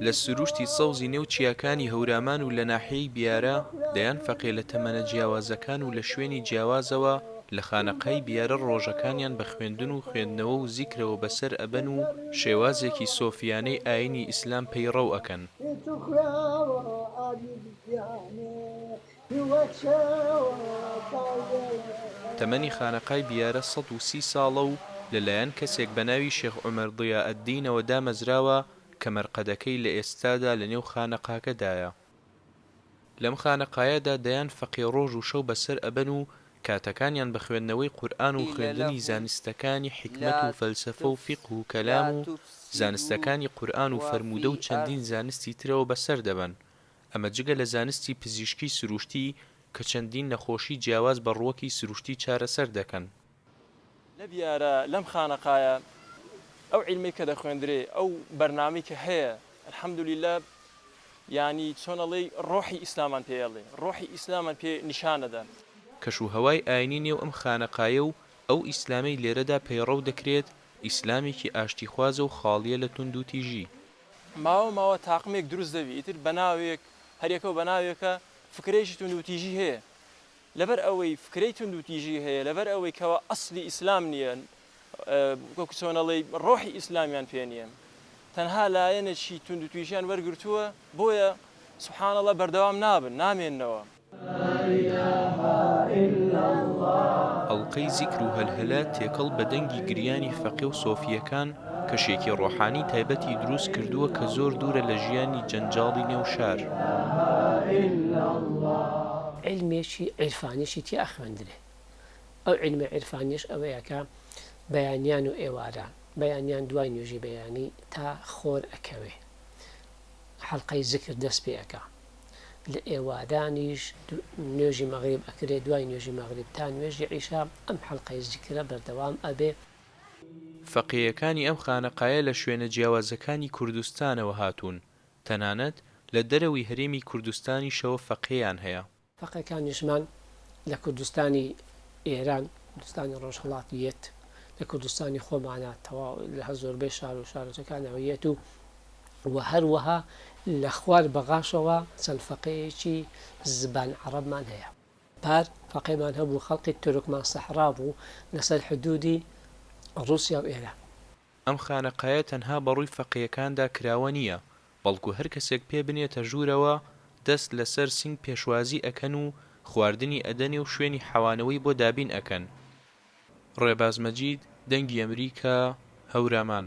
لە سرووشتی سەوزی نێو چیاکانی هەورامان و لە ناحیەی بیارە، دەیان فەقێ لە تەمەنە جیاوازەکان و لە شوێنی جیاوازەوە لە خانەقای بیارە ڕۆژەکانیان بە خوێندن و خوێندنەوە و زیکرەوە بەسەر ئەبەن و شێوازێکی سۆفییانەی ئایینی ئیسلام پەیڕەو ئەکەن. تەمەنی خانەقای بیارە سەد و سی ساڵە و لەلایەن کەسێک بە ناوی شێخ عومەر ضیاءالدینەوە دامەزراوە کە مەرقەدەکەی لە ئێستادا لەنێو خانەقاکەدایە. لەم خانەقایەدا دەیان فەقێ ڕۆژ و شەو بەسەر ئەبەن و کاتەکانیان بە خوێندنەوەی قورئان و خوێندنی زانستەکانی حیکمەت و فەلسەفە و فیقه و کەلام و زانستەکانی قورئان و فەرموودە و چەندین زانستی ترەوە بەسەر دەبەن ئەمە جگە لە زانستی پزیشکی سروشتی کە چەندین نەخۆشی جیاواز بە ڕووەکی سروشتی چارەسەر دەکەن. لە بیارە لەم خانەقایە ئەو عیلمەی کە دەخوێندرێ ئەو بەرنامەی کە هەیە الحمدللە یانی چۆن ئەڵێی ڕۆحی ئیسلامان پێ ئەڵێ ڕۆحی ئیسلامان پێ نیشان ئەدا. کەش و هەوای ئاینی نێو ئەم خانەقایە و ئەو ئیسلامەی لێرەدا پەیڕەو دەکرێت ئیسلامێکی ئاشتیخوازە و خاڵیە لە توندوتیژی ماوە ماوە تاقمێک دروست دەبی ئیتر بەناوێک هەر یەکەو بەناوێکە فکرەیەکی توندوتیژی هەیە لەبەر ئەوەی فکرەی توندوتیژی هەیە لەبەر ئەوەی کەوا ئەسلی ئیسلام نییە وەکو چۆنەڵی ڕۆحی ئیسلامیان پێ نییە تەنها لایەنێکی توندوتیژیان وەرگرتووە بۆیە سبحان اللە بەردەوام نابن نامێنەوە. ئەڵقەی زیکر و هەلهەلە تێکەڵ بە دەنگی گریانی فەقێ و سۆفییەکان، کەشێکی ڕۆحانی تایبەتی دروست کردووە کە زۆر دوورە لە ژیانی جەنجاڵی نێو شار. عیلمێکی عیرفانیشی تیا ئەخوێندرێ. ئەو عیلمە عیرفانیەش ئەوەیە کە بەیانیان و ئێواران، بەیانیان دوای نوێژی بەیانی تا خۆر ئەکەوێ حەڵقەی زیکر دەست پێ ئەکا. لە ئێوارانیش نوێژی مەغریب ئەکرێ دوای نوێژی مەغریب تا نوێژی عیشا ئەم حەلقەی زیکرە بەردەوام ئەبێ. فەقێیەکانی ئەم خانەقایە لە شوێنە جیاوازەکانی کوردستانەوە هاتوون، تەنانەت لە دەرەوەی هەرێمی کوردستانیشەوە فەقێیان هەیە. فەقێکانیشمان لە کوردستانی ئێران، کوردستانی ڕۆژهەڵات یەت، لە کوردستانی خۆمانا تەواو لە هەر زۆربەی شار و شارۆچەکانەوە یەت و و هەروەها لە خوار بەغاشەوە چەند فەقێیەکی زبان عەڕەبمان هەیە. پار فەقێمان هەبوو خەڵقی تورکمان سەحرا بوو لەسەر حدوودی ڕووسیا و ئێران. ئەم خانەقایە تەنها بە ڕووی فەقێیەکاندا کراوە نییە، بەڵکو هەر کەسێک پێ بنێتە ژوورەوە دەست لەسەر سینگ پێشوازی ئەکەن و خواردنی ئەدەنێ و شوێنی حەوانەوەی بۆ دابین ئەکەن. ڕێباز مەجید، دەنگی ئەمریکا، هەورامان.